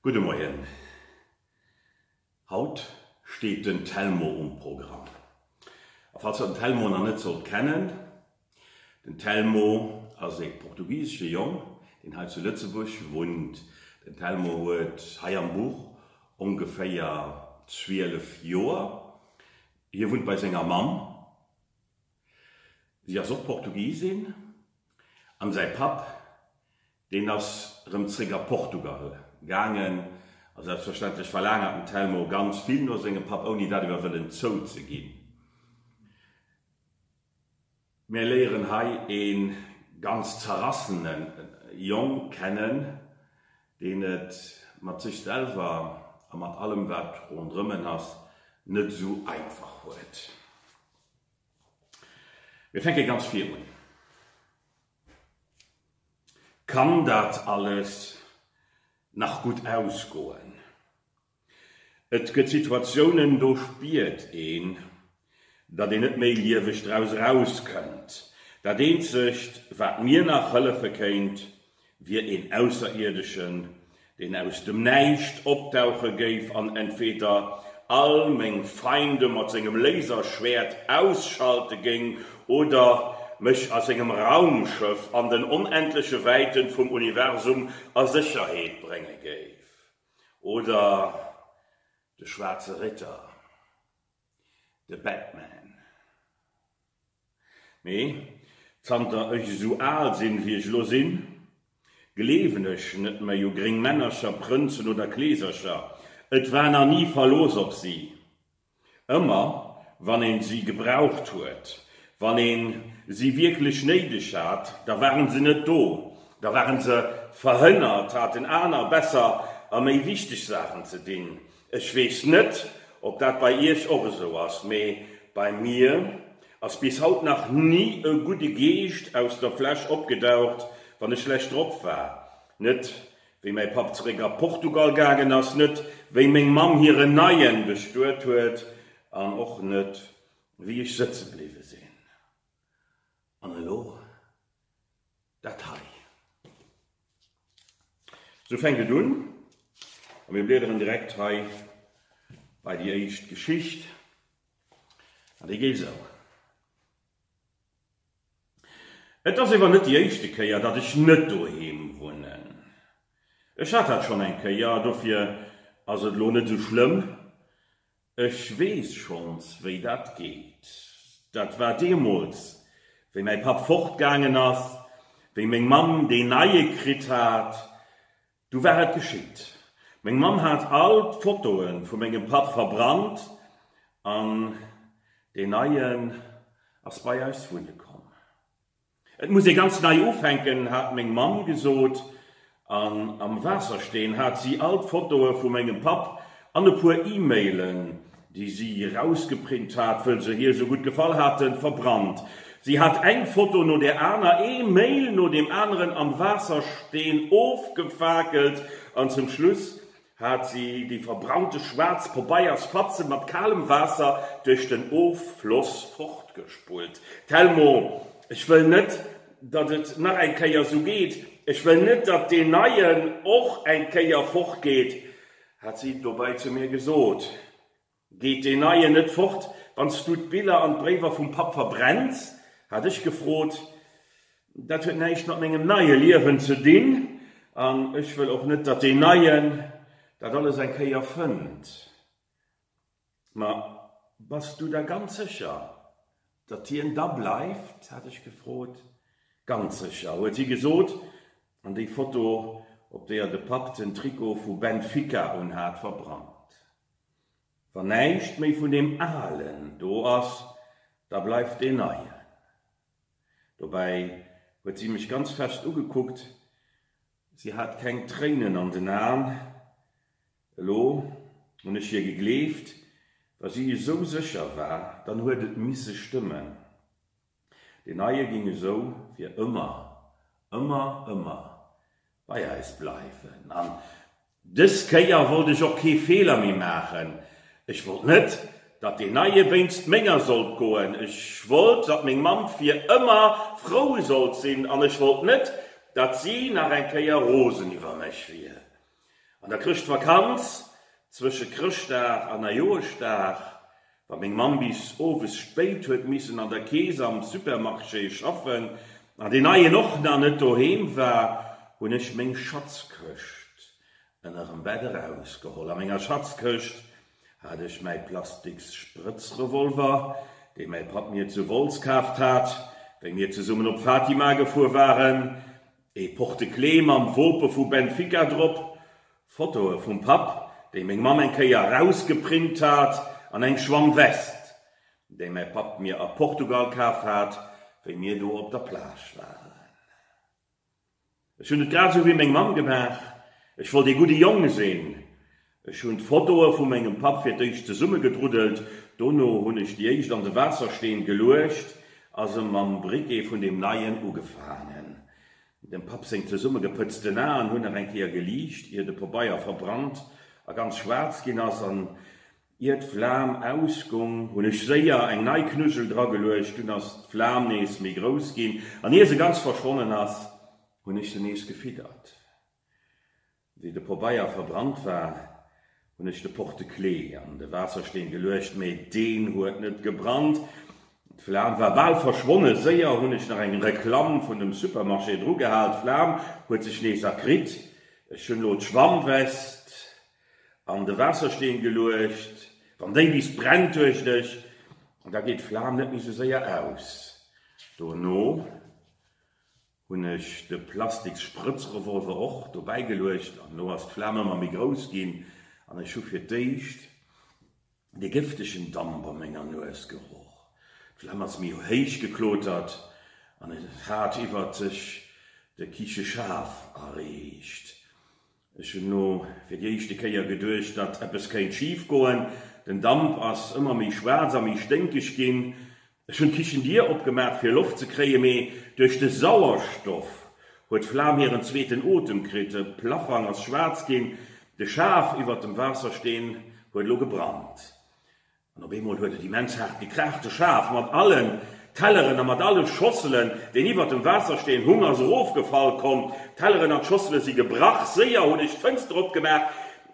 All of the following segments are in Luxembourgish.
Gudde Moien. Haut steet den Telmo um Programm. A falls der den Telmo nach net sollt kennen, Den Telmo ass ee portugisesche Jong, deen hei zu Lëtzebuerg wunnt. Den Telmo huet hei am Buch ongeféier 12 Joer. Hie wunnt bei senger Mamm, si ass och Portugisin, an säi Papp, deen ass rëm zréck a Portugal gaangen. A selbstverständlech verlaangert den Telmo ganz vill no sengem Papp, ouni dat iwwer wëllen zouzeginn. Mär léieren hei ee ganz zerrassene Jong kennen, deen et mat sech selwer a mat allem wat ronderëm en ass net esou einfach huet. Mir fänke ganz vir un. Kann dat alles nach gutt ausgoen? Et gëtt Situatiounen, do spiert een, datt een net méi lieweg draus erauskënnt. Dat eenzegt, wat mir nach hëllefe kéint, wier een Ausserierdëschen, deen aus dem Näischt opdauche géif an entweder all meng Feinde mat sengem Laserschwäert ausschalte géing oder mech a sengem Raumschëff an den onendleche Wäite vum Universum a Sécherheet brénge géif. Oder de Schwaarze Ritter, de Batman. Mee zanter ech esou al sinn, wéi ech elo sinn, gleewen ech net méi u gréng Männercher, Prënzen oder Kleesercher. Et war nach ni Verlooss op si. Ëmmer wann een si gebraucht huet, wann een si wierklech néideg hat, da waren se net do, da waren se verhënnert, haten aner besser a méi wichteg Saachen ze dinn. Ech weess net, ob dat bei Iech och esou ass, mee bei mir ass bis haut nach ni e gudde Geescht aus der Fläsch opgedaucht, wann ech schlecht drop war. Net Wéi mäi Papp zeréck a Portugal gaangen ass, net wéi meng Mamm hiren Neien bestuet huet an och net wéi ech sëtze bliwwe sinn. An elo dat hei. Esou fänkt et un a mir bliederen direkt hei bei déi éischt Geschicht an déi geet esou. Et ass ewer net déi éischte Kéier dat ech net doheem wunnen. Ech hat dat schonn eng Kéier, dofir ass et lo net sou schlëmm. Ech weess schonns wéi dat geet. Dat war deemools wéi mäi Papp fortgaangen ass, wéi meng Mamm deen neie kritt hat, Du war et geschitt. Meng Mamm hat all d'Fotoe vu mengem Papp verbrannt an deen neien ass bei eis wunne komm. Et muss ee ganz nei ufänken, hat meng Mamm gesot an am Waassersteen hat si all d'Fotoe vu mengem Papp an e puer E-Mailen déi si erausgeprint hat, wëll se hir sou gutt gefall haten, verbrannt. Si hat eng Foto no der aner, ee Mail no deem aneren am Waassersteen ofgefakelt an zum Schluss hat si déi verbrannte schwaarz Pobeiersfatzen mat kalem Waasser duerch den Offloss fortgespullt. Telmo, ech wëll net, datt et nach eng Kéier sou geet. Ech wëll net, datt deen neien och eng Kéier fortgeet. Hat si dobäi zu mir gesot, Geet deen Neien net fort, wann s du d'Biller an d'Bréiwer vum Papp verbrenns? hat ech gefrot. Dat huet näischt mat mengem neie Liewen ze dinn, an ech wëll och net, datt deen Neien dat alles eng Kéier fënnt. Ma bass du der ganz sécher, datt hien da bleift? hat ech gefrot. Ganz sécher, huet si gesot, an déi Foto, op deeër de Papp den Trikot vu Benfica unhat, verbrannt. Wann näischt méi vun deem Alen do ass, da bleift deen Neien. Dobäi huet si mech ganz fest ugekuckt, si hat keng Tréinen an den Aen. Elo hunn ech hir gegleeft, wa si esou sécher war, dann huet et misse stëmmen. Deen Neie géing esou fir ëmmer, ëmmer, ëmmer bei eis bleiwen. An dës Kéier wollt ech och kee Feeler méi maachen. Ech wollt net, datt deen Neie wéinst menger sollt goen. Ech wollt, datt meng Mamm fir ëmmer frou sollt sinn an ech wollt net, datt si nach eng Kéier rosen iwwer mech wier. An der Chrëschtvakanz, zwësche Chrëschtdag an Neijoerschdag, wa meng Mamm bis owes spéit huet missen an der Kees am Supermarché schaffen an deen neien och nach net doheem war, hunn ech meng Schatzkëscht ënnerem Bett erausgeholl. A menger Schatzkëscht hat ech mäi plasteks Sprëtzrevolver, dee mäi Papp mir zu Wolz kaaft hat, wéi mir zesummen op Fatima gefuer waren. Ee Porte-clés mam Wope vu Benfica drop, Fotoe vum Papp, déi meng Mamm eng Kéier erausgeprint hat, an eng Schwammwest, déi mäi Papp mir a Portugal kaf hat, wéi mir do op der Plage waren. Ech hunn et grad esou wéi meng Mamm gemaach, ech wollt ee gudde Jong sinn Ech hun d'Fotoe vu mengem Papp fir d'éischt zesummegedruddelt, dono hun ech déi éischt an de Waassersteen geluecht a se mam Briquet vun deem neien ugefaangen. Dem Papp seng zesummegepëtzten Aen hun nach eng Kéier geliicht, ier de Pobeier verbrannt a ganz schwaarz gin as, an ier d'Flam ausgung, hun ech séier eng nei Knuddjel drageluecht, dun as d'Flam nees méi grouss gin, an ier se ganz verschwonnen as, hun ech se nees gefiddert. Wéi de Pobeier verbrannt war, hunn ech de Porte-clé an de Waassersteen geluecht, mee deen huet net gebrannt. D'Flam war bal verschwonnen. Séier hunn ech nach eng Reklamm vun dem Supermarché drugehal, d'Flam huet sech nees erkritt. Ech hunn elo d'Schwammwest an de Waassersteen geluecht. Wann déi bis brennt, duecht ech, da geet d'Flam net méi sou séier aus. Dono Hun ech de plastiks Sprëtzrevolver och dobäi geluecht an lo ass d'Flam ëmmer méi grouss gin an ech hu fir d'éischt de gëftegen Damp a menger Nues geroch. D'Flam ass méi héich geklotert an et hat iwwert sech de Kicheschaf erreecht. Ech hunn elo fir déi éischte Kéier geduecht, datt eppes kéint schif goen. Den Damp ass ëmmer méi schwaarz a méi sténkeg ginn. Ech hunn d'Kichendier opgemaach fir Loft ze kréien, mee duerch de Sauerstoff huet d'Flam hiren zweeten Otem kritt. De Plaffang ass schwaarz ginn. De Schaf iwwert dem Waassersteen huet elo gebrannt. An op eemol huet et immens haart gekraacht, de Schaf mat allen Telleren a mat alle Schosselen, deen iwwert dem Waassersteen hung, ass erofgefall. Komm, d'Telleren an d'Schossele si gebrach. Séier hunn ech d'Fënster opgemaach,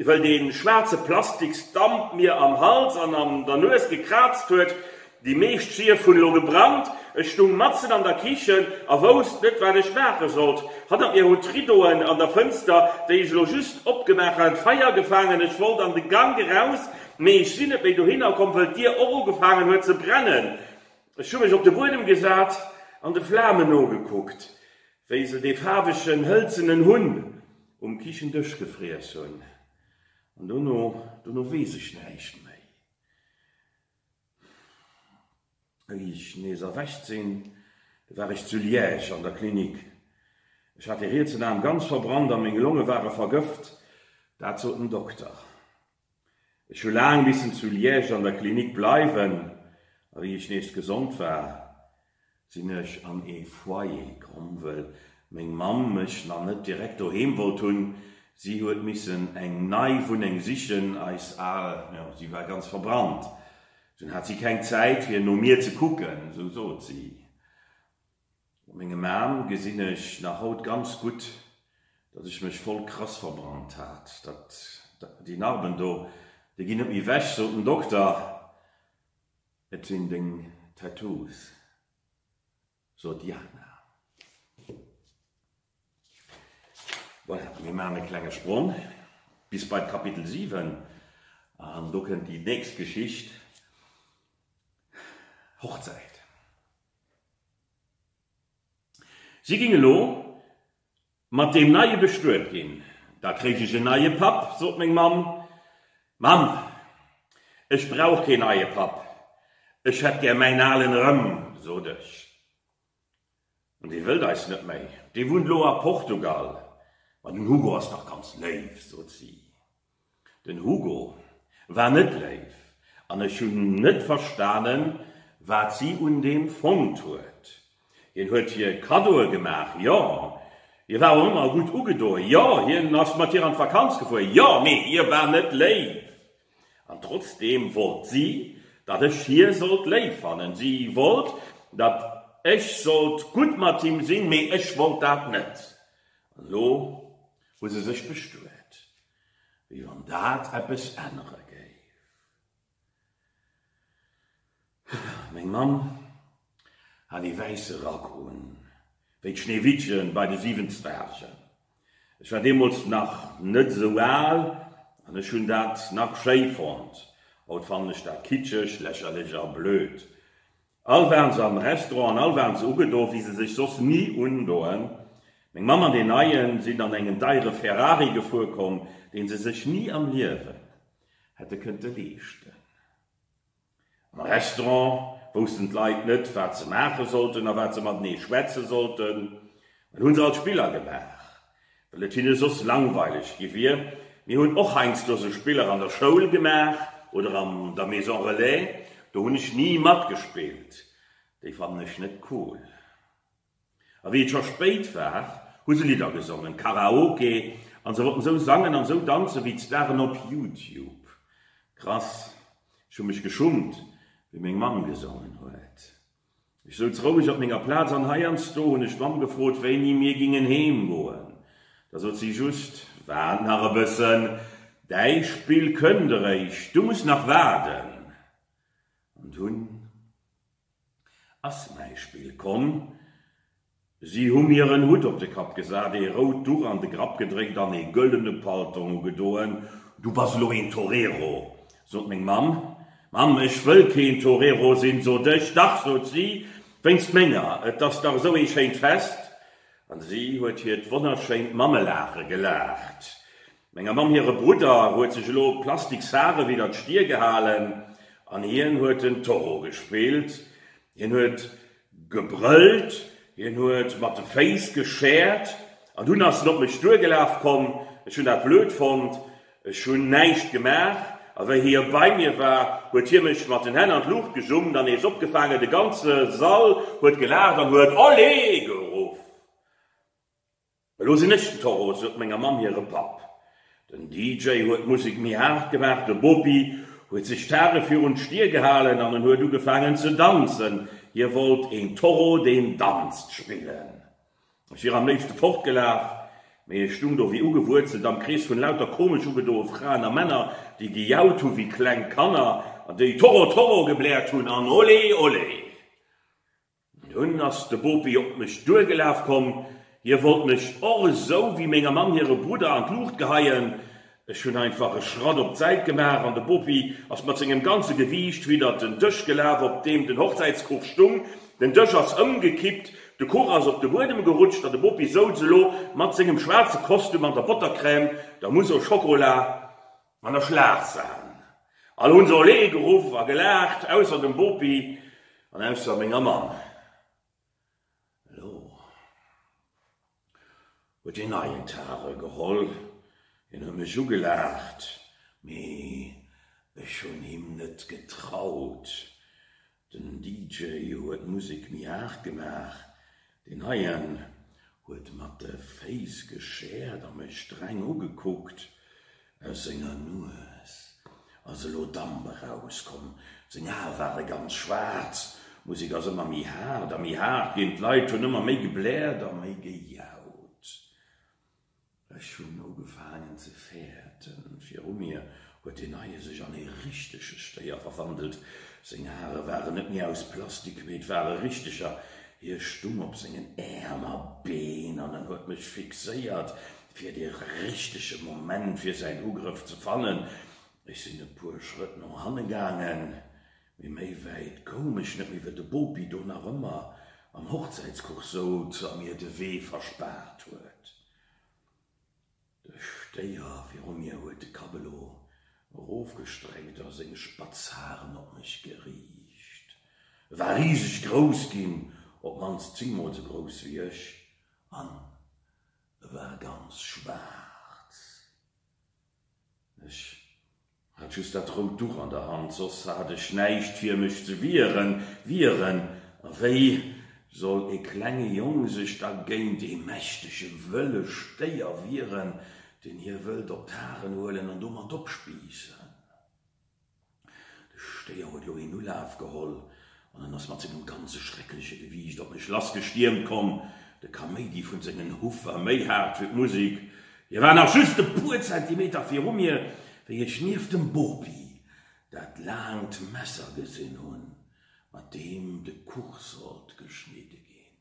well dee schwaarze Plastiksdamp mir am Hals an an der Nues gekraazt huet. Déi meescht Schief hunn elo gebrannt. Ech stung matzen an der Kichen a wousst net, wat ech maache sollt. Hannert mir hunn d'Riddoen an der Fënster, déi ech elo just opgemaach hat, Feier gefaangen. Ech wollt an de Gank eraus, Mee ech sinn net méi dohinner komm, wëll d'Dier och ugefaangen huet ze brennen. Ech hu mech op de Buedem gesat an de Flamen nogekuckt, wéi se dee faarwegen hëlzenen Hunn um Kichendësch gefriess hunn. An dono, dono weess ech näischt méi. Wéi ech nees erwächt sinn, war ech zu Liège an der Klinik. Ech hat dee rietsen Aarm ganz verbrannt a meng Longe ware vergëft, dat sot den Dokter. Ech hu laang missen zu Liège an der Klinik bleiwen, a wéi ech nees gesond war, sinn ech an ee Foyer komm, wëll meng Mamm mech nach net direkt doheem wollt hunn. Si huet missen eng nei Wunneng sichen, eis al, jo, si war ganz verbrannt. Dunn hat si keng Zäit, fir no mir ze kucken, esou sot si. Mat mengem Aarm gesinn ech nach haut ganz gutt, datt ech mech voll krass verbrannt hat. Dat, déi Narben do, déi ginn net méi wech, sot den Dokter. Et sinn deng Tattoos, sot d'Jana. Voilà, mir maachen e klenge Sprong bis bei d'Kapitel 7, an do kënnt déi nächst Geschicht, Hochzäit. Si géing elo mat deem Neie bestuet ginn. Da kréich ech en neie Papp, sot meng Mamm. Mamm, ech brauch keen neie Papp, ech hätt gär mäin alen erëm, sot ech. An dee wëllt eis net méi, dee wunnt elo a Portugal. Ma den Hugo ass dach ganz léif, sot si. Den Hugo war net léif an ech hunn net verstanen, wat si un deem fonnt huet. Hien huet hir Kaddoe gemaach, jo, hie war och ëmmer gutt ugedoen, jo, hien ass mat hir an d'Vakanz gefuer, jo, mee hie war net léif. An trotzdeem wollt si, datt ech hie sollt léif fannen. Si wollt, datt ech sollt gutt mat him sinn, mee ech wollt dat net. An elo Hu se sech bestuet, wéi wann dat eppes ännere géif. Meng Mamm hat ee wäisse Rack un, wéi d'Schneewittchen bei de siwen Zwergen. Ech war deemools nach net esou al an ech hunn dat nach schéi fonnt. Haut fannen ech dat kitscheg, lächerlech a blöd. All waren se am Restaurant an all waren se ugedo wéi se sech soss ni undoen. Meng Mamm an deen Neien sinn an engem deiere Ferrari gefuer komm, deen se sech ni am Liewen hätte kënnte leeschten. Am Restaurant woussten d'Leit net wat se maache sollten a wat se matenee schwätze sollten, well hu se alt Spiller gemaach. Well et hinne soss langweileg gi wier. Mir hunn och heiansdo sou Spiller an der Schoul gemaach oder an der Maison Relais. Do hunn ech ni matgespillt, déi fannen ech net cool. A wéi et scho spéit war, hu se Lidder gesongen, Karaoke, a se wollten sou sangen an sou danzen wéi d'Staren op Youtube. Krass. Ech hu mech geschummt, wéi meng Mamm gesongen huet. Ech souz roueg op menger Plaz an heiansdo hunn ech d'Mamm gefrot, wéini mir gingen heem goen. Da sot si just, Waart nach e bëssen, däi Spill kënnt eréischt, du muss nach waarden. An dunn ass mäi Spill komm. Si hu mir en Hutt op de Kapp gesat, ee rout Duch an de Grapp gedréckt an ee gëllene Paltong ugedoen. Du bass elo een Torero, sot meng Mamm. Mamm, ech wëll keen Torero sinn, sot ech. Dach, sot si, wéinst menger, et ass dach esou ee schéint Fest. An si huet hiert wonnerschéint Mammelaache gelaacht. Menger Mamm hire Brudder huet sech elo plastik Saren widder d'Stier gehalen an hien huet den Toro gespillt. Hien huet Gebrëllt, hien huet mat de Féiss geschäert an dunn ass en op mech duergelaf komm. Ech hunn dat blöd fonnt, ech hunn näischt gemaach a wéi hie bei mir war, huet hie mech mat den Hänn an d'Luucht gejummt an nees opgefaangen. De ganze Sall huet gelaacht an huet Olé! geruff. Elo sinn ech den Toro, sot menger Mamm hire Papp. Den DJ huet d'Musek méi haart gemaach, de Bopi huet sech d'Haare virun d'Stier gehalen an en huet ugefaangen ze danzen. Hie wollt een Toro, deen danzt spillen. Ech wier am léifste fortgelaf, mee ech stung do wéi ugewuerzelt am Krees vun lauter komesch ugedoe Fraen a Männer, déi gejaut hu wéi kleng Kanner an déi Toro, Toro gebläert hunn an Olé, Olé. Dunn ass de Bopi op mech duergelaf komm, hie wollt mech och esou wéi mengem Mann hire Brudder an d'Luucht geheien. Ech hunn einfach e Schratt op d'Säit gemaach an de Bopi ass mat sengem ganze Gewiicht widdert den Dësch gelaf, op deem den Hochzäitskuch stung. Den Dësch ass ëmgekippt, de Kuch ass op de Buedem gerutscht an de Bopi souz elo mat sengem schwaarze Kostüm an der Bottercrème, der Mousse au Chocolat An der Schlafsaal. All hunn se Olé geruff a gelaacht, ausser dem Bopi an ausser menger Mamm. Elo huet een neien Tare geholl. Hien huet mech ugelaacht, mee ech hunn him net getraut. Den DJ huet Musek méi haart gemaach, deen heien huet mat de Féiss geschäert a mech streng ugekuckt. Aus senger Nues ass elo Damp erauskomm, seng Ae ware ganz schwaarz. D'Musek ass ëmmer méi haart a méi haart ginn, d'Leit hunn ëmmer méi gebläert a méi gejaut. Ech hunn ugefaangen ze fäerten. Viru mir huet deen neie sech an ee richtege Stéier verwandelt. Seng Hare waren net méi aus Plastik, mee et ware richteger. Hie stung op sengen Äerm a Been an en huet mech fixéiert, fir dee richtege Moment fir säin Ugrëff ze fannen. Ech sinn e puer Schrëtt no hanne gaangen. Mee méi wäit koum ech net méi, well de Bopi do nach ëmmer am Hochzäitskuch souz a mir de Wee verspaart huet. De Stéier viru mir huet de Kapp elo erofgestreckt a seng spatz Haren op mech geriicht. E war riseg grouss ginn, op d'mannst zingmol sou grouss wéi ech, an e war ganz schwaarz. Ech hat just dat rout Duch an der Hand, soss hat ech näischt fir mech ze wieren. Wieren? A wéi soll e klenge Jong sech da géint e mächtege wëlle Stéier wieren, deen hie wëllt op d'Haren huelen an domat opspiissen? De Stéier huet elo een Ulaaf geholl an en ass mat sengem ganze schreckleche Gewiicht op mech lassgestiermt komm. De Kaméidi vun sengen Huff war méi haart wéi d'Musik. Hie war nach just e puer Zentimeter viru mir, wéi ech nieft dem Bopi dat laangt Messer gesinn hunn, mat deem de Kuch sollt geschnidde ginn.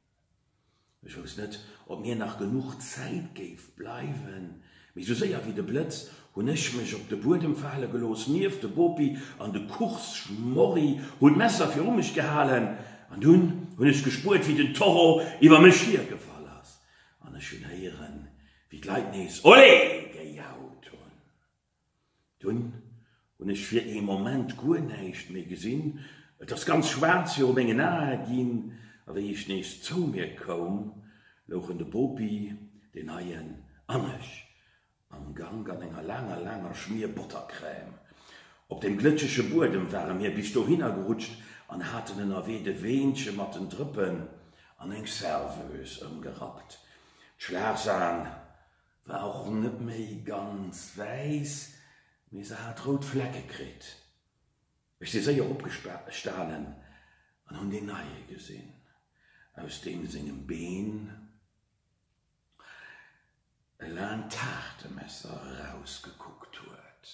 Ech wousst net, ob mir nach genuch Zäit géif bleiwen, mee sou séier wéi de Blëtz hunn ech mech op de Buedem fale gelooss, nieft de Bopi an de Kuchs-Schmorri, hunn d'Messer viru mech gehalen an dunn hunn ech gespuert, wéi den Toro iwwer mech hier gefall ass an ech hunn héieren, wéi d'Leit nees Olé! gejaut hunn. Dunn hunn ech fir ee Moment guer näischt méi gesinn. Et ass ganz schwaarz viru mengen Ae ginn a wéi ech nees zou mir koum, louchen de Bopi, deen Neien an ech am Gank an enger laanger, laanger Schmier Bottercrème. Op dem glëtschege Buedem ware mir bis dohinner gerutscht an haten ënnerwee de Weenche mat den Drëppen an eng Serveuse ëmgerappt. D'Schlagsan War och net méi ganz wäiss, mee se hat rout Flecke kritt. Ech si séier opgestanen an hunn deen Neie gesinn. Aus deem sengem Been e laangt Taartemesser erausgekuckt huet.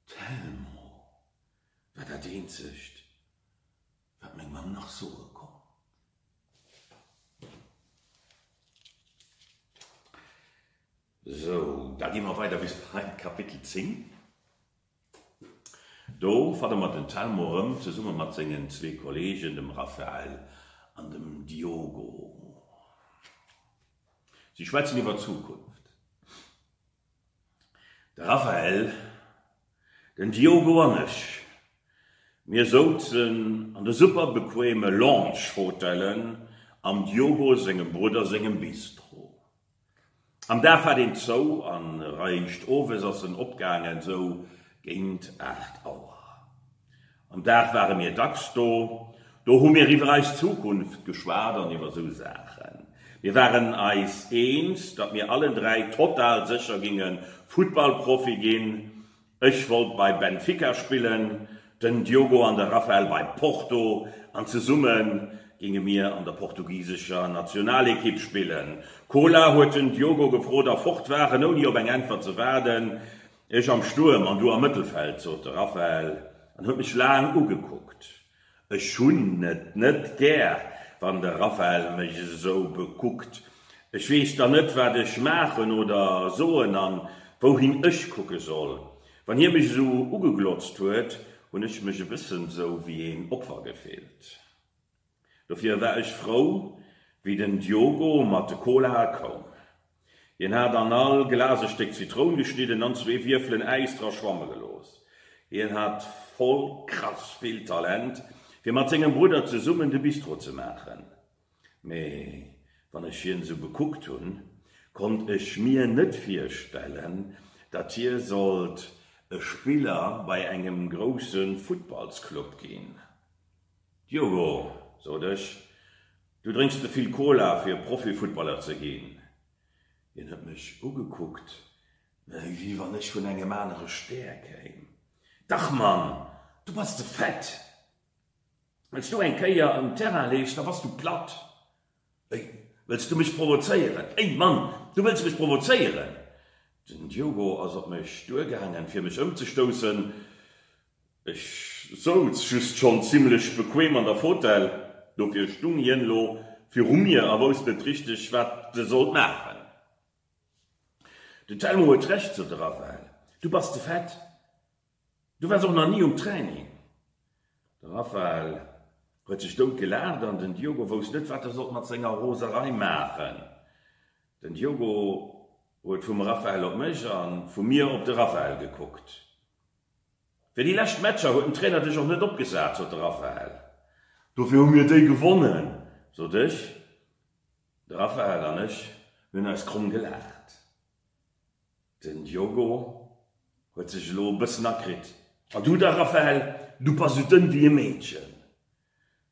D'Thelmo war dat eenzegt. Wat meng Mamm nach soe konnt. Sou, da gi mer weider bis bei Kapitel 10. Do fanne mer den Telmo erëm zesumme mat sengen zwee Kolleegen, dem Rafael an dem Diogo. Si schwätzen iwwer d'Zukunft. De Raphael, Den Diogo an ech, mir souzen an de super bequeme Lounge-Fotellen am Diogo sengem Brudder sengem Bistro. Am Dag hat een zou an eréischt owes ass en opgaangen, sou géint 8 Auer. Am Dag ware mir dacks do. Do hu mir iwwer eis Zukunft geschwat an iwwer esou Saachen. Mir waren eis eens, datt mir allen dräi total sécher ginge Futtballprofi ginn. Ech wollt bei Benfica spillen, den Diogo an de Rafael bei Porto an zesumme ginge mir an der portugisescher Nationalekipp spillen. Kola, huet den Diogo gefrot a fort waren, ouni op eng Äntwert ze waarden. Ech am Stuerm an du am Mëttelfeld, sot de Raphael an huet mech laang ugekuckt. Ech hunn et net gär, wann de Raphael mech esou bekuckt. Ech weess dann net, wat ech maachen oder soen an wouhin ech kucke soll. Wann hie mech esou ugeglotzt huet, hunn ech mech e bëssen esou wéi een Opfer gefillt. Dofir war ech frou, wéi den Diogo mat de Colae koum. Hien hat an all Glas e Stéck Zitroun geschnidden an zwee Wierfelen Äis dra schwamme gelooss. Hien hat voll krass vill Talent, fir mat sengem Brudder zesummen de Bistro ze maachen. Mee wann ech hien esou bekuckt hunn, konnt ech mir net virstellen, datt hie sollt e Spiller bei engem grousse Futtballsclub ginn. Diogo, sot ech, du drénks ze vill Cola fir Profifuttballer ze ginn. Hien huet mech ugekuckt, wéi wann ech vun engem anere Stär kéim. Dach Mann, du bass ze fett. Wann s du eng Kéier um Terrain leefs, da bass du platt. Wéi, wëlls du mech provozéieren? Ey Mann, du wëlls mech provozéieren? Den Diogo ass op mech duergaangen, fir mech ëmzestoussen. Ech souz just schonn zimmlech bequeem an der Fotell, dofir stung hien elo viru mir a wousst net richteg, wat e sollt maachen. Den Telmo huet Recht, sot e Raphael, du bass ze fett. Du wars och nach ni um Training? De Raphael huet sech dout gelaacht an den Diogo wousst net, wat e sollt mat senger Roserei maachen. Den Diogo huet vum Raphael op mech a vu mir op de Raphael gekuckt. Fir déi lescht Matcher huet den Trainer dech och net opgesat, sot de Raphael. Dofir hu mir déi gewonnen, sot ech. De Raphael an ech hunn eis kromm gelaacht. Den Diogo huet sech elo e bëssen akritt. A du da, Raphael? Du bass sou dënn wéi e Meedchen.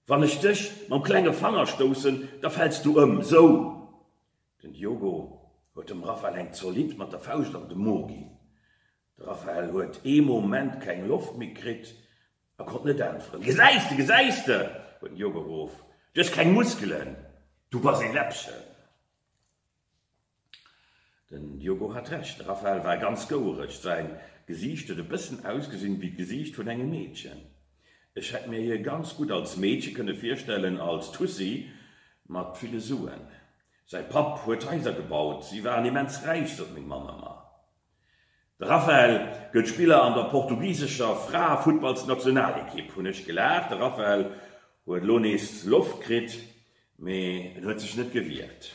Wann ech dech mam klenge Fanger stoussen, da fäls du ëm. Sou! Den Diogo huet dem Raphael eng zolidd mat der Fauscht an de Mo ginn. De Raphael huet ee Moment keng Loft méi kritt a konnt net äntweren. Gesäis de, gesäis de! huet den Diogo geruff. Du hues keng Muskelen. Du bass ee Läppchen. Den Diogo hat Recht, de Raphael war ganz gouereg, säin Gesiicht huet e bëssen ausgesinn wéi d'Gesiicht vun engem Meedchen. Ech hätt mir hie ganz gutt als Meedche kënne virstellen, als Tussi mat ville Suen. Säi Papp huet Haiser gebaut, si waren immens räich, sot meng Mamm ëmmer. De Raphael gëtt Spiller an der portugisescher Fraefuttballsnationalekipp. Hunn ech gelaacht. De Raphael huet elo nees Loft kritt, mee en huet sech net gewiert.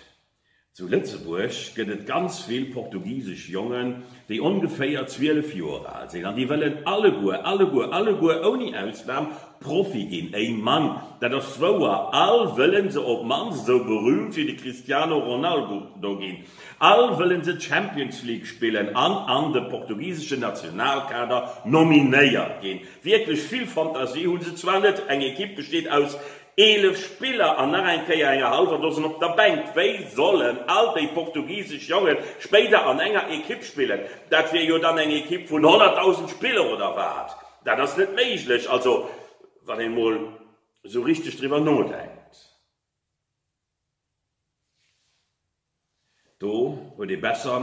Zu Lëtzebuerg gëtt et ganz vill portugisesch Jongen, déi ongeféier 12 Joer al sinn, an déi wëllen alleguer, alleguer, alleguer ouni Ausnam Profi ginn. Ey Mann, dat ass wouer! All wëllen se op d'mannst esou berühmt wéi de Cristiano Ronaldo ginn. All wëllen se d'Champions League spillen an an de portugiseschen Nationalkader nominéiert ginn. Wierklech vill Fantasie hu se zwar net, eng Ekipp besteet aus 11 Spiller an nach eng Kéier enger hallwer Dosen op der Bänk. Wéi sollen all déi portugisesch Jonge spéider an enger Ekipp spillen? Dat wier jo dann eng Ekipp vun 100.000 Spiller oder wat? Dat ass net méiglech, also wann een emol esou richteg driwwer nodenkt. Do huet ee besser,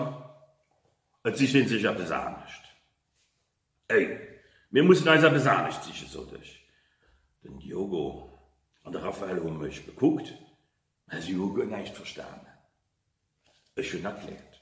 et sicht ee sech eppes anescht. Ey, mir mussen eis eppes anescht sichen, sot ech. Den Diogo an de Raphael hu mech bekuckt, mä si hu guer näischt verstanen. Ech hunn erkläert.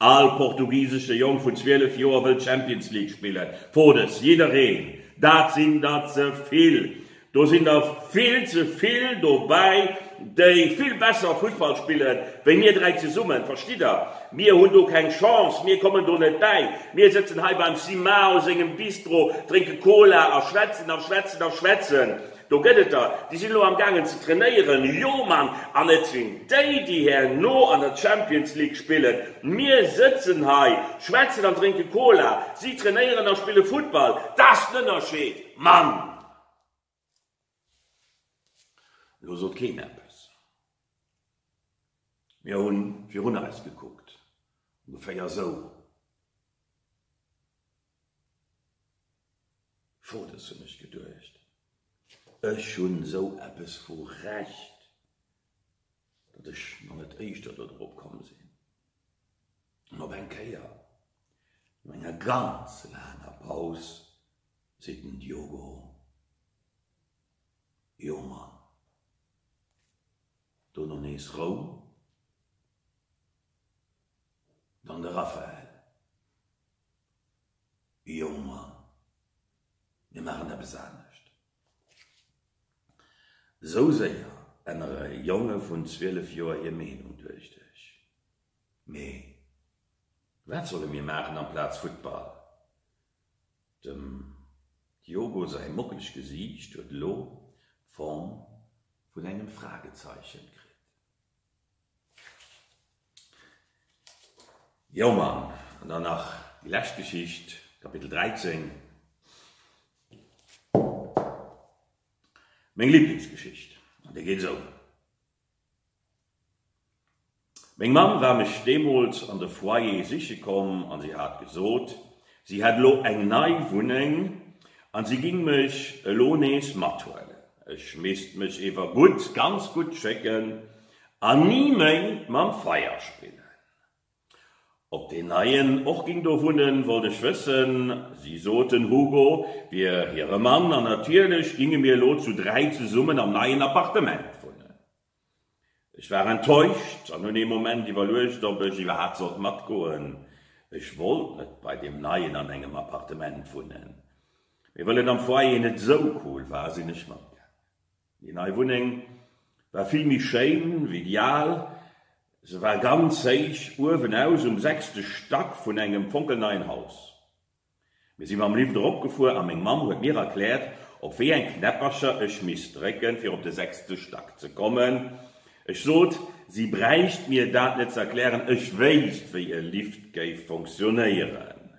All portugisesche Jong vun 12 Joer wëll d'Champions League spillen. Fodes, jiddereen. Dat sinn der ze vill. Do sinn der vill ze vill dobäi, déi vill besser Fussball spille wéi mir dräi zesummen. Verstitt Der? Mir hunn do keng Chance. Mir kommen do net bäi. Mir sëtzen hei beim Simao sengem Bistro, drénke Cola a schwätzen a schwätzen a schwätzen. Do gëtt et der, déi sinn elo am gaangen ze trainéieren. Jo Mann, an et sinn déi, déi herno an der Champions League spillen. Mir sëtzen hei, schwätzen an drénke Cola, si trainéieren a spille Futtball. Dat ass den Ënnerscheed, Mann! Elo sot keen eppes. Mir hu virun eis gekuckt, ongeféier esou. Fotos hunn ech geduecht, ech hunn esou eppes vu Recht, datt ech mer net éischter do drop komm sinn. An op eng Kéier, no enger ganz laanger Paus, seet den Diogo, Jo Mann, dono nees Roum, dann de Rafael. Jonger, mir maachen eppes anescht. Esou séier ännere Jonge vun 12 Joer hir Meenung, duecht ech. Mee wat solle mir maachen amplaz Futtball? Dem Diogo säi mockelegt Gesiicht huet elo d'Form vun engem Fragezeichen kritt. Jo Mann! An dann nach déi lescht Geschicht, Kapitel 13. Meng Liblingsgeschicht. An déi geet esou. Meng Mamm war mech deemools an de Foyer siche komm an si hat gesot, Si hätt elo eng nei Wunneng an si ging mech elo nees mathuelen. Ech misst mech ewer gutt, ganz gutt schécken an ni méi mam Feier spillen. Op deen neien och ging do wunnen, wollt ech wëssen. Si sot den Hugo wier hire Mann an natierlech ginge mir elo zu dräi zesummen am neien Appartement wunnen. Ech war enttäuscht an hunn ee Moment iwwerluecht, ob ech iwwerhaapt sollt matgoen. Ech wollt net bei deem Neien an engem Appartement wunnen, mee well et am Foyer net esou cool war, sinn ech matgaangen. Déi nei Wunneng war vill méi schéin wéi déi al. Se war ganz héich uewen aus um sechste Stack vun engem fonkelneien Haus. Mir si mam Lift erop gefuer a meng Mamm huet mir erkläert, op wéi eng Knäppercher ech misst drécken, fir op de sechste Stack ze kommen. Ech sot, si bräicht mir dat net ze erklären, ech wéisst, wéi e Lift géif fonctionéieren.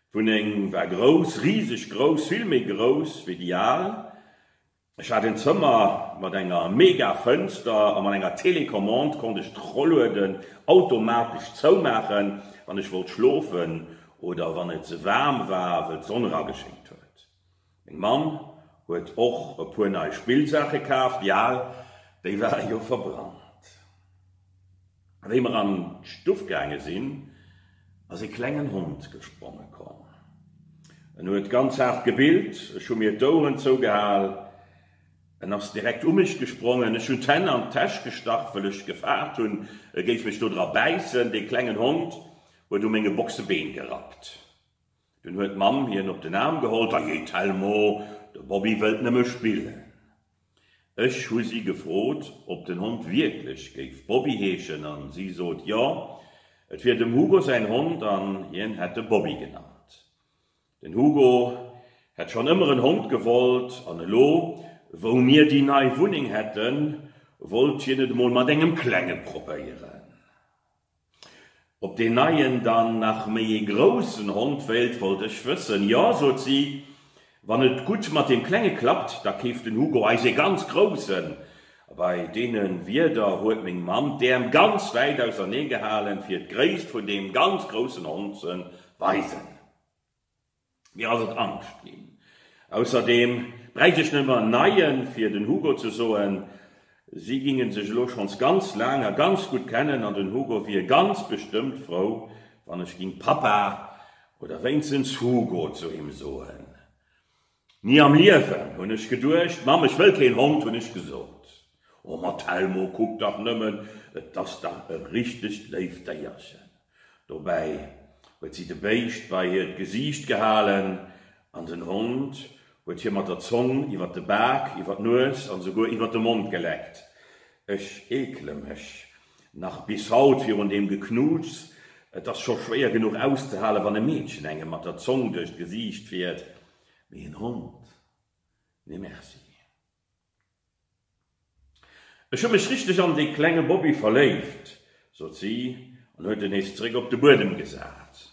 D'Wunneng war grouss, riseg grouss, vill méi grouss wéi déi al. Ech hat een Zëmmer mat enger mega Fënster a mat enger Télécommande konnt ech d'Rollueden automatesch zoumaachen, wann ech wollt schlofen oder wann et ze waarm war, wëll d'Sonn erageschéngt huet. Meng Mamm huet och e puer nei Spillsaache kaaft, di al, déi ware jo verbrannt. Wéi mer an d'Stuff gaange sinn, ass ee klengen Hond gespronge komm. En huet ganz haart gebillt. Ech hu mir d'Oueren zougehal. En ass direkt u mech gesprongen. Ech hunn d'Hänn an d'Täsch gestach, wëll ech gefaart hunn, e géif mech dodra bäissen. Dee klengen Hond huet u menge Boxebeen gerappt. Dunn huet d'Mamm hien op den Aarm geholl, Ajee Telmo, de Bobby wëllt nëmme spillen. Ech hu si gefrot, ob den Hond wierklech géif Bobby heeschen an si sot, jo, et wier dem Hugo säin Hond an hien hätt e Bobby genannt. Den Hugo hätt schonn ëmmer en Hond gewollt an elo, wou mir déi nei Wunneng hätten, wollt hien et emol mat engem Klenge probéieren. Ob deen Neien dann nach méi ee groussen Hond wéilt, wollt ech wëssen. Jo, sot si, wann et gutt mat deem Klenge klappt, da keeft den Hugo eis ee ganz groussen. Bei deene Wierder huet meng Mamm d'Äerm ganz wäit ausernee gehalen, fir d'Gréisst vun deem ganz groussen Hond ze weisen. Mir ass et angscht ginn. Ausserdeem bräicht ech net mér en neien, fir den Hugo ze soen. Si gingen sech elo schonns ganz laang a ganz gutt kennen an den Hugo wier ganz bestëmmt frou, wann ech ging Papa oder wéinstens Hugo zu him soen. Ni am Liewen, hunn ech geduecht. Mamm, ech wëll keen Hond, hunn ech gesot. O ma Telmo, kuck dach nëmmen, et ass dach e richtegt léift Déierchen. Dobäi huet si de Béischt bei hiert Gesiicht gehalen an den Hond huet hir mat der Zong iwwert de Bak, iwwert d'Nues an esouguer iwwert de Mond geleckt. Ech eekele mech nach bis haut virun deem Geknuuts. Et ass scho schwéier genuch auszehalen, wann e Meedchen engem mat der Zong duerch d'Gesiicht fiert, mee en Hond, nee Merci. Ech hu mech richteg an dee klenge Bobby verléift, sot si an huet en nees zeréck op de Buedem gesat.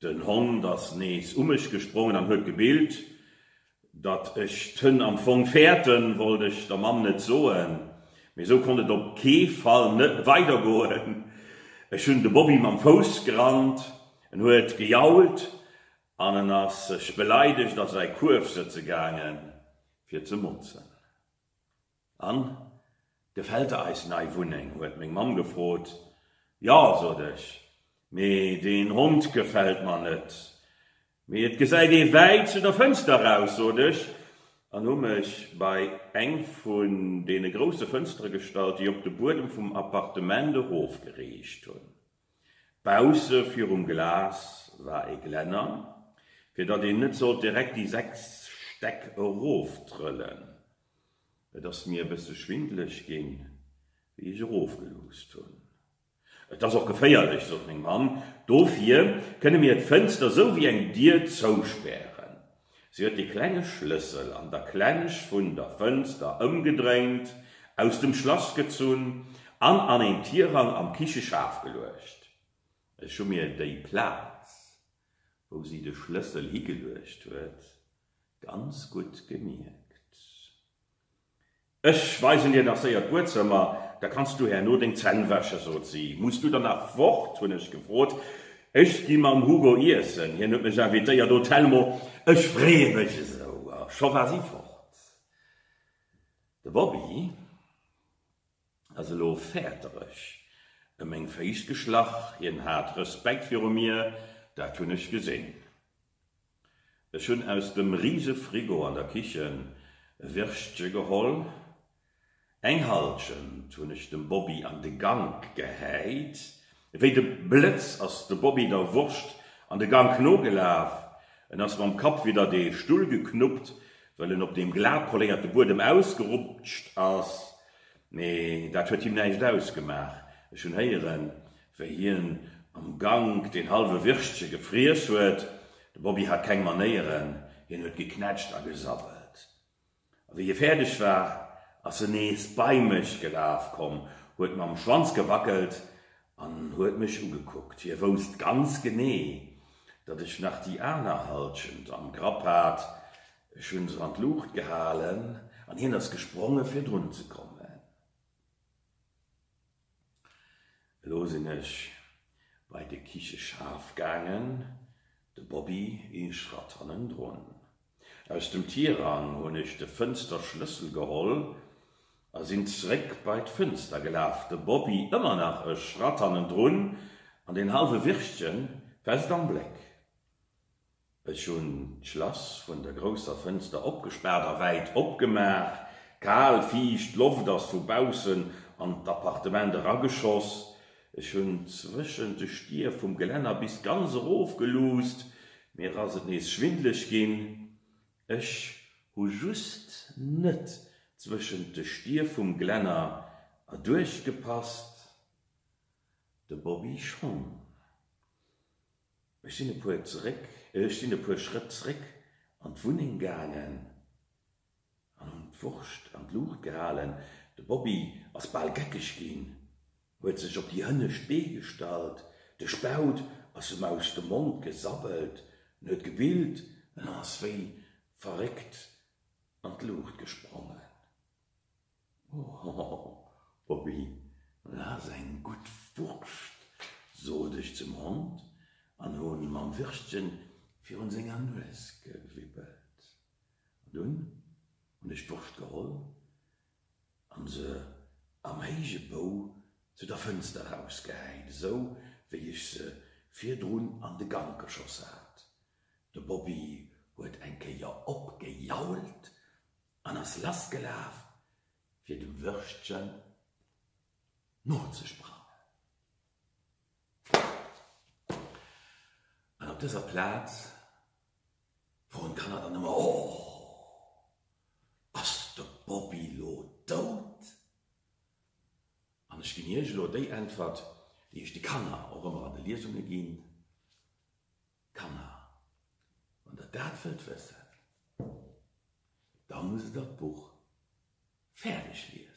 Den Hond ass nees u mech gesprongen an huet gebillt. Datt ech d'Hënn am Fong fäerten, wollt ech der Mamm net soen, mee esou konnt et op kee Fall net weidergoen. Ech hunn de Bobby mam Fouss gerannt, en huet gejault An en ass sech beleidegt a säi Kuerf sëtze gaange fir ze motzen. An, gefält der eis nei Wunneng? huet meng Mamm gefrot. Jo, sot ech, mee deen Hond gefält mer net. Mee et gesäit ee wäit zu der Fënster raus, sot ech an hu mech bei eng vun deene grousse Fënstere gestallt, déi op de Buedem vum Appartement erofgeriicht hunn. Bausse virum Glas war e Glänner, fir datt een net sollt direkt déi sechs Stäck eroftrëllen. Et ass mir e bësse schwindeleg ginn, wéi ech erofgeluusst hunn. Et ass och geféierlech, sot meng Mamm. Dofir kënne mir d'Fënster sou wéi eng Dier zouspären. Se huet de klenge Schlëssel an der Klensch vun der Fënster ëmgedréint, aus dem Schlass gezunn an an een Tirang am Kicheschaf geluecht. Ech hu mir déi Plaz, wou si de Schlëssel higeluecht huet, ganz gutt gemierkt. Ech weisen dir nach séier d'Buedzëmmer, da kanns du herno deng Zänn wäschen, sot si. Muss du dann nach fort? hunn ech gefrot. Ech gi mam Hugo iessen, hien huet mech invitéiert. Oh Telmo, ech freeë mech esou! A scho war si fort. De Bobby ass elo fäertereg ëm meng Féiss geschlach, hien hat Respekt viru mir, dat hunn ech gesinn. Ech hunn aus dem riise Frigo an der Kichen e Wirschtsche geholl, eng Halschent hunn ech dem Bobby an de Gank gehäit. Wéi de Blëtz ass de Bobby der Wurscht an de Gank nogelaf. En ass mam Kapp widdert ee Stull geknuppt, well en op deem glat poléierte Buedem ausgerutscht ass. Mee dat huet him näischt ausgemaach. Ech hunn héieren, Wéi hien am Gank deen halwe Wirschtsche gefriess huet. De Bobby hat keng Manéieren, hien huet geknätscht a gesabbelt. A wéi hie fäerdeg war, ass en nees bei mech gelaf komm, huet mam Schwanz gewackelt an huet mech ugekuckt. Hie wousst ganz genee, datt ech nach déi aner Hallschent am Grapp hat. Ech hunn se an d'Luucht gehalen an hien ass gespronge fir drun ze kommen. Elo sinn ech bei de Kicheschaf gaangen, de Bobby ee Schratt hannendrun. Aus dem Tirang hunn ech de Fënsterschlëssel geholl a sinn zeréck bei d'Fënster gelaf, de Bobby ëmmer nach e Schratt hannendrun an deen hallwe Wirstchen fest am Bléck. Ech hunn d'Schlass vun der grousser Fënster opgespaart a wäit opgemaach. Kal, fiicht Loft ass vu baussen an d'Appartement erageschoss. Ech hunn zwëschent de Stier vum Gelänner bis ganz erof geluusst. Mir ass et nees schwindleg ginn. Ech hu just net zwëschent de Stier vum Gelänner erduerch gepasst, de Bobby schonn. Ech sinn e puer zeréck, ech sinn e puer Schrëtt zréck an d'Wunneng gaangen an hunn d'Wurscht an d'Luucht gehalen. De Bobby ass bal geckeg ginn, huet sech op déi hënnescht Bee gestallt, de Spaut ass em aus dem Mond gesabbelt, en huet gebillt an ass wéi verréckt an d'Luucht gesprongen. Hohoho, Bobby, lass eng gutt Wurscht, sot ech zum Hond an hunn mam Wirstchen virun senger Nues gewibbelt. An dunn hunn ech d'Wurscht geholl an se am héije Bou zu der Fënster rausgehäit, esou wéi ech se virdrun an de Gank geschoss hat. De Bobby huet eng Kéier opgejault an ass lassgelaf, fir dem Würstchen nozesprangen. An op dëser Plaz froen d'Kanner dann ëmmer, Oh, ass de Bobby lo dout? An ech ginn Iech elo déi Äntwert, déi ech de Kanner och ëmmer an de Liesunge ginn, Kanner, wann der dat wëllt wëssen, da musst der d'Buch fäerdeg liesen.